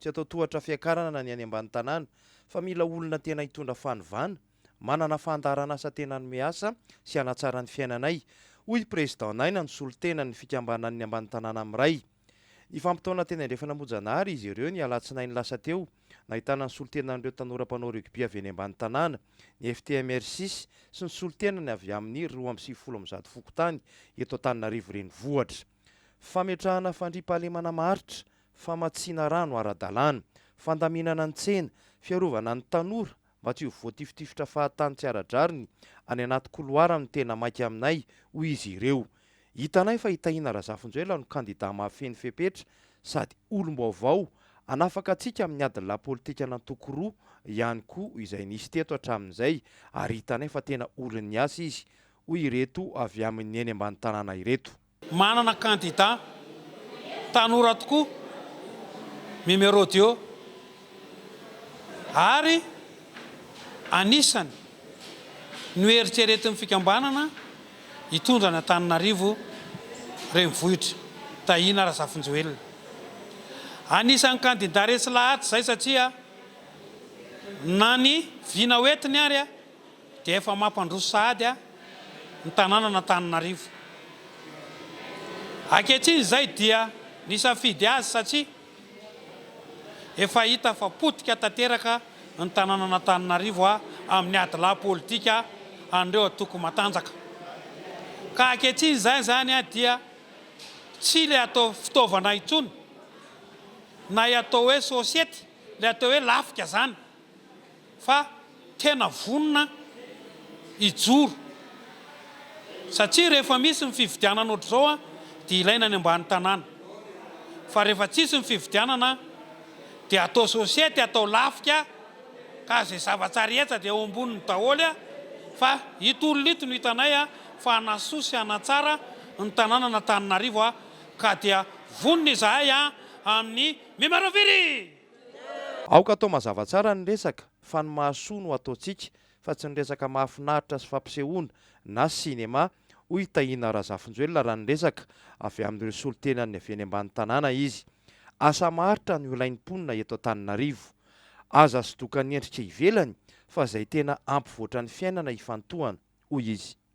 Tsy atao tohatra fiakarana ny any ambany tanàna fa mila olona tena hitondra fanovana, manana fandaharanasa tena hanome asa sy hanatsara ny fiainanay, hoy i President Naina nisolo tena ny fikambanan'ny ambany tanàna Miray. Nifampitaona teny andrefana Mojanahary izy ireo ny alatsinainy lasa teo, nahitana ny solontenan'ireo tanora mpanao rugby avy eny ambany tanàna, ny FTMRCIS sy ny solontenany avy amin'ny roa amby sivifolo amin'ny zato fokontany eto Antananarivo Renivohitra. Fametrahana fandriampahalemana maharitra, famatsiana rano ara-dalàna, fandaminana ny tsena, fiarovana ny tanora mba tsy ho voatifitifitra fahatany tsy ara-drariny any anaty koloara no tena maika aminay, hoy izy ireo. Hitanay fa i Tahina Razafinjoelina no kandidà mahafehy ny fepetra sady olom-baovao hanafaka antsika amin'ny adin'ny lapolitika nantoko roa ihany koa izay nisy teto hatramin'izay ary hitanay fa tena olon'ny asa izy, hoy ireto avy amin'ny eny ambany tanàna ireto. Manana kandida tanora tokoa Mimi Rodio ary anisany noeritreretin'ny fikambanana hitondra an'i Antananarivo renivohitra, Tahina Razafinjoelina. Anisan'ny kandida resy lahatra izay satria na ny vina hoentiny ary dia efa mampandroso sahady ny tanànan'Antananarivo. Ankehitriny izay dia nisafidy azy satria efa hita fa potika tanteraka ny tanànan'Antananarivo amin'ny adilahy politika an'ireo antoko matanjaka. Ka ankehitriny izay izany dia tsy ilay atao fitaovana intsony na ilay atao hoe sosiety, ilay atao hoe lafika izany. fa tena vonona hijoro satria rehefa misy ny fifidianana ohatr'izao dia ilaina any ambany tanàna fa rehefa tsisy ny fifidianana dia atao society atao lafika ka izay zava-tsa rehetra dia eo amboniny daholo fa ito olona ito no hitanay fa hanasoa sy hanatsara ny tanànan'Antananarivo ka dia vonona izahay amin'ny Mimaraviry! Aoka atao mazava tsara ny resaka fa ny mahasoa no ataontsika fa tsy ny resaka mahafinaritra sy fampisehoana na sinema, hoy i Tahina Razafinjoelina raha niresaka avy amin'ireo solontenan'ny avy eny ambany tanàna izy. Asa maharitra no ilain'ny mponina eto Antananarivo. Aza asodokan'ny endrika ivelany fa izay tena hampivoatra ny fiainana ifantohana, hoy izy.